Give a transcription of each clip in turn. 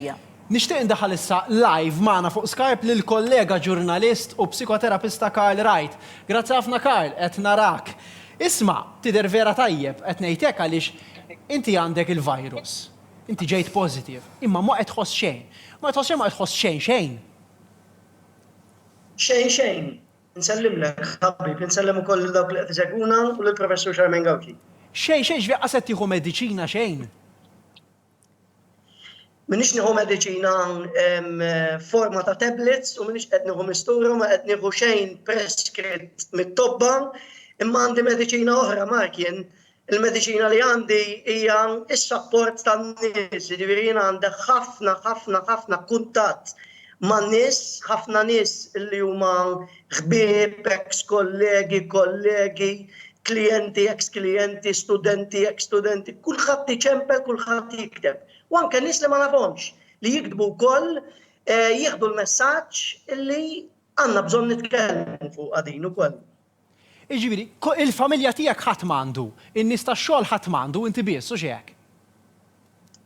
Ħamrija. Nixtieq indaħħal issa live magħna fuq Skype lill-kollega ġurnalist u psikoterapista Karl Wright. Grazzi ħafna Karl, qed narak. Isma', tidher vera tajjeb, qed ngħid hekk għaliex inti għandek il-virus. Inti ġejt positive. Imma ma qed tħoss xejn. Ma qed tħoss xejn, ma qed tħoss xejn xejn. Xejn xejn. Insellimlek ħabib, insellem ukoll lil dawk li qed isegwuna u lill-Professur Charmaine Gauci. Xejn xejn, ġifieri qas qed tieħu mediċina xejn? Minix nieħu mediċina hawn forma ta' tablets u minix qed nieħu mistura ma qed nieħu xejn preskritt mit-tobba imma għandi mediċina oħra markien il-mediċina li għandi hija s-sapport tan-nies, jiġifieri jiena għandi ħafna ħafna ħafna kuntatt man-nies, ħafna nies li huma Ħbieb, eks kollegi, kollegi, klijenti, eks klijenti, studenti, eks studenti, kulħadd iċempel, kulħadd jikteb. U anke nies li ma nafhomx li jiktbu wkoll eh, jieħdu l-messaġġ li għandna bżonn nitkellmu fuq għadin ukoll. Iġifieri, il-familja tiegħek ħadd m'għandu, in-nies tax-xogħol ħadd m'għandu, inti biss u x'hekk.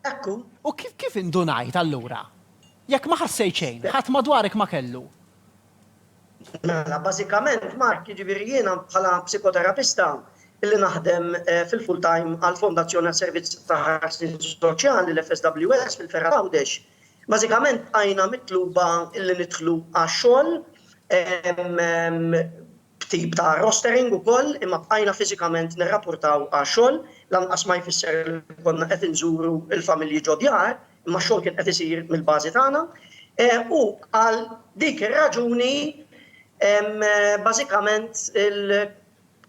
Hekk hu. U kif indunajt, allura? Jekk ma ħassejt xejn, ħadd madwarek ma kellu? Mela, bażikament, Mark, jiġifieri jiena bħala psikoterapista li naħdem fil-full time għall-Fondazzjoni għas-Servizz ta' Ħarsien Soċjali, l-FSWS, fil-Ferħa Għawdex, bażikament bqajna mitluba li nidħlu għax-xogħol b'tip ta' rostering ukoll, imma bqajna fiżikament nirrapurtaw għax-xogħol, lanqas ma jfisser li konna qed inżuru l-familji ġod-djar, imma x-xogħol kien qed isir mill-bażi tagħna. U għal dik ir-raġuni bażikament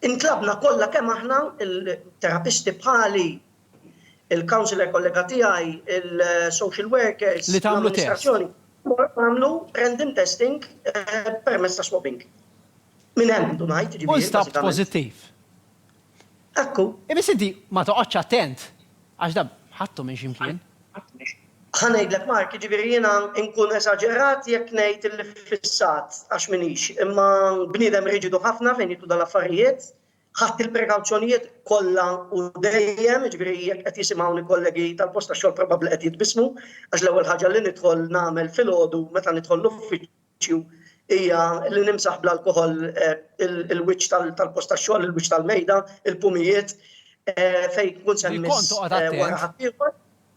intlabna kollha kemm aħna, il-terapisti bħali il-counsellor kollega tiegħi, il-social workers, l-amministrazzjoni, għamlu random testing permezz ta' swabbing. Minn hemm du ngħid, ġifieri. U stabt pożittiv. Ekku. Imma siddi ma toqgħodx attent għax da ħadtu minn x'imkien. Ħanejdlek Mark, ġifieri jiena nkun esaġerat jekk ngħid li fissat għax minix, imma bniedem riġidu ħafna fejn jidħlu dal-affarijiet, Ħadt il-prekawzjonijiet kollha u dejjem, jiġifieri jekk qed jisimgħuni kollegi tal-post tax-xogħol probabbli qed jitbissmu għax l-ewwel ħaġa li nidħol nagħmel filgħodu meta nidħol l-uffiċċju hija li nimsaħ bl-alkoħol il-wiċċ tal-post tax-xogħol, il-wiċċ tal-mejda, il-pumijiet fejn tkun se mmiss wara ħaddieħor.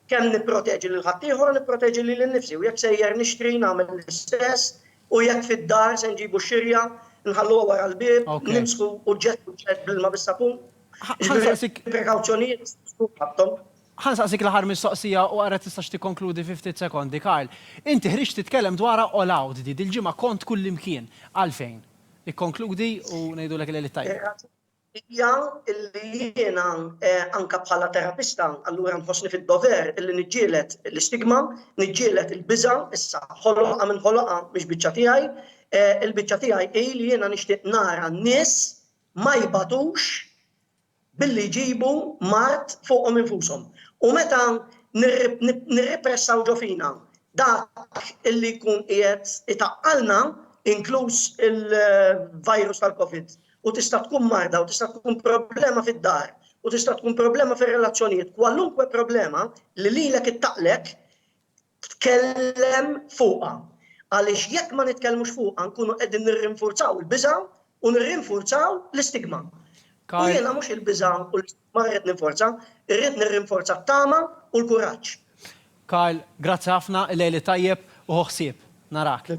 Kemm nipproteġi lil ħaddieħor u nipproteġi lili nnifsi u jekk sejjer nixtri nagħmel l-istess u jekk fid-dar se nġibu x-xirja nħalluha wara l-bieb, nimsħu uġġett uġġett bl-ilma bis-sapun. Jiġifieri prekawzjonijiet nistgħu nżidu ħafna. Ħa nsaqsik l-aħħar mistoqsija u ara tistax tikkonkludi fi ftit sekondi, Karl. Inti ħriġt titkellem dwarha all out di, dil-ġimgħa kont kullimkien. Għalfejn? Ikkonkludi u ngħidulek il-Għeliet Tajbin. hija li jiena anke bħala terapista allura nħossni fid-dover illi niġġieled l-istigma, niġġieled il-biża', issa ħoloqha min ħoloqha mhix biċċa tiegħi, il-biċċa tiegħi hi li jiena nixtieq nara n-nies ma jbatux billi jġibu mard fuqhom infushom. U meta nirripressaw ġo fina dak illi jkun qiegħed itaqqalna, inkluż il-virus tal-Covid, u tista' tkun marda u tista' tkun problema fid-dar u tista' tkun problema fir-relazzjonijiet, kwalunkwe problema li lilek ittaqlek tkellem fuqha. Għaliex jekk ma nitkellmux fuqha nkunu qegħdin nirrinfurzaw il-biża' u nirrinfurzaw l-istigma. U jiena mhux il-biża' u l-istigma rrid ninforza, irrid nirrinforza t-tama u l-kuraġġ. Karl, grazzi ħafna, il-lejl it-tajjeb u ħu ħsieb. Narak.